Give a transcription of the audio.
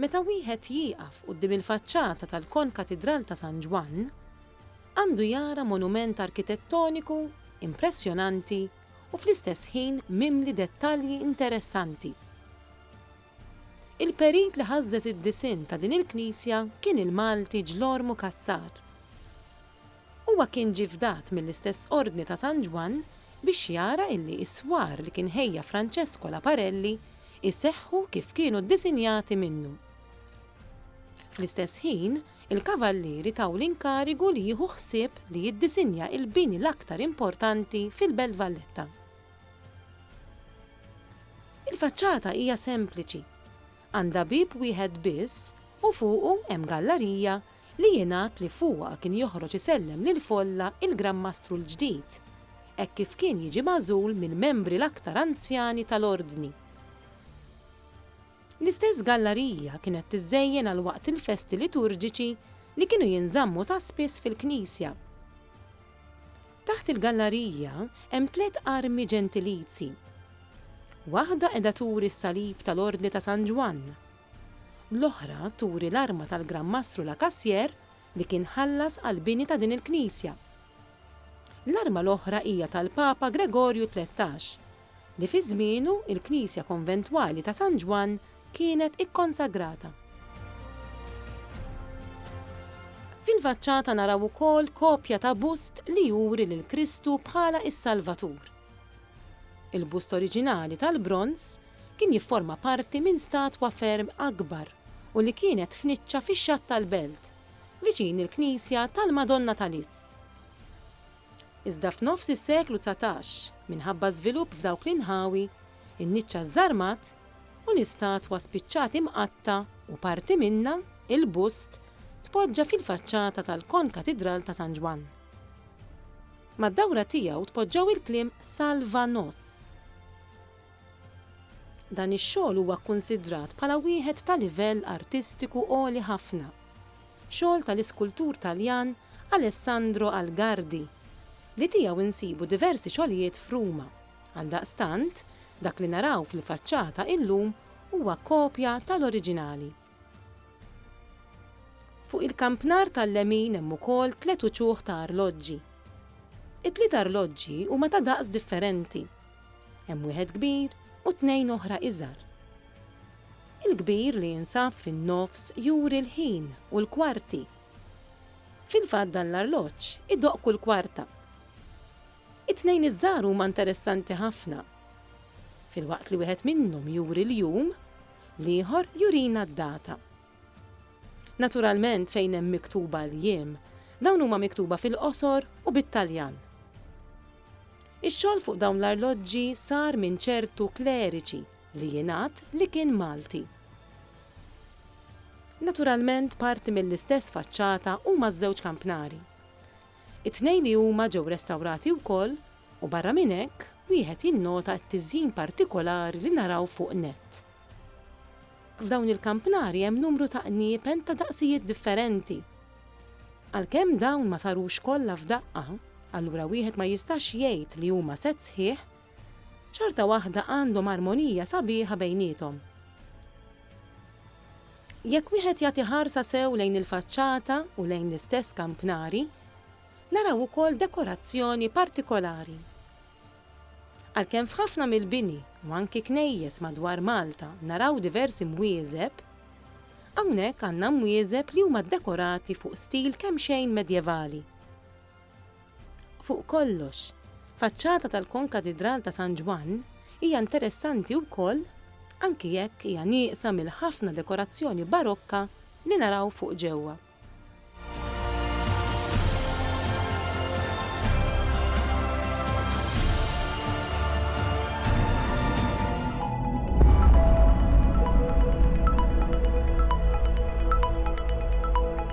Meta wieħed jieqaf quddiem il-faċċata tal-Konkatidral ta' San Ġwann, għandu jara monument arkitettoniku impressjonanti u fl-istess ħin mimli dettalji interessanti. Il-perit li ħażżeż id-disinn ta' din il-knisja kien il-Malti Ġlormu Cassar. Huwa kien ġie fdat mill-istess Ordni ta' San Ġwann biex jara illi is-swar li kien ħejja Francesco Laparelli jseħħu kif kienu ddisinjati minnu. Fl-istess ħin, il-Kavallieri taw l-inkarigu li jieħu ħsieb li jiddisinja il-bini l-aktar importanti fil-Belt Valletta. Il-faċċata hija sempliċi. Għandha bieb wieħed biss u fuqu hemm gallarija li jingħad li fuqha kien joħroġ isellem lill-folla il-Gran Mastru l-ġdid, hekk kif kien jiġi magħżul mill-membri l-aktar anzjani tal-Ordni. L-istess gallarija kienet tiżżejjen għal waqt il-festi liturġiċi li kienu jinżammu ta' spiss fil-knisja. Taħt il-gallarija hemm tliet armi ġentilizi. Waħda qiegħda turi s-salib tal-Ordni ta' San Ġwann, L-oħra turi l-arma tal-Gran Mastru Lacassière li kien ħallas għall-bini ta' din il-knisja. L-arma l-oħra hija tal-Papa Gregorju Tlettax, li fi żmienu l-knisja konventwali ta' San Ġwann kienet ikkonsagrata. Fil-faċċata naraw ukoll kopja ta' bust li juri lil Kristu bħala s-Salvatur. Il-bust oriġinali tal-bronż kien jifforma parti minn statwa ferm akbar u li kienet f'niċċa fix-xatt tal-belt, viċin il-knisja tal-Madonna ta' Lis. Iżda f'nofs is-seklu dsatax, minħabba żvilupp f'dawk l-inħawi, in-niċċa żżarmat u l-istatwa spiċċat imqatta' u parti minnha, il-bust, tpoġġa fil-faċċata tal-Kon-Katidral ta' San Ġwann. Mad-dawra tiegħu tpoġġew il-kliem Salva nos. Dan ix-xogħol huwa kkunsidrat bħala wieħed ta' livell artistiku għoli ħafna. Xogħol tal-iskultur Taljan Alessandro Algardi, li tiegħu insibu diversi xogħlijiet f'Ruma. Għaldaqstant, dak li naraw fil-faċċata illum huwa kopja tal-oriġinali. Fuq il-kampnar tal-lemin hemm ukoll tliet uċuħ ta' arloġġi. It-tliet arloġġi huma ta' daqs differenti. Hemm wieħed kbir u tnejn oħra iżgħar. Il-kbir li jinsab fin-nofs juri l-ħin u l-kwarti. Fil-fatt dan l-arloġġ idoqq kull kwarta. It-tnejn iż-żgħar huma interessanti ħafna. Filwaqt li wieħed minnhom juri l-jum, L-ieħor jurina d-data. Naturalment fejn hemm miktuba l-jiem, dawn huma miktuba fil-qosor u bit-Taljan. Ix-xogħol fuq dawn l-arloġġi sar minn ċertu kleriċi li jingħad li kien Malti. Naturalment parti mill-istess faċċata huma ż-żewġ kampnari. It-tnejn li huma ġew restawrati wkoll u barra minn hekk wieħed jinnota t-tiżjin partikolari li naraw fuq net. F'dawn il-kampnari hemm numru ta' qniepen ta' daqsijiet differenti. Għalkemm dawn ma sarux kollha f'daqqa, allura wieħed ma jistax jgħid li huma sett sħiħ Xorta waħda għandhom armonija sabiħa bejniethom. Jekk wieħed jagħti ħarsa sew lejn il-faċċata u lejn l-istess kampnari, naraw ukoll dekorazzjoni partikolari. Għalkemm f'ħafna mill-bini u anki knejjes madwar Malta naraw diversi mwieżeb, hawnhekk għandna mwieżeb li huma ddekorati fuq stil kemxejn medjevali. Fuq kollox, faċċata tal-Konkatidral ta' San Ġwann hija interessanti wkoll anki jekk hija nieqsa mill-ħafna dekorazzjoni barokka li naraw fuq ġewwa.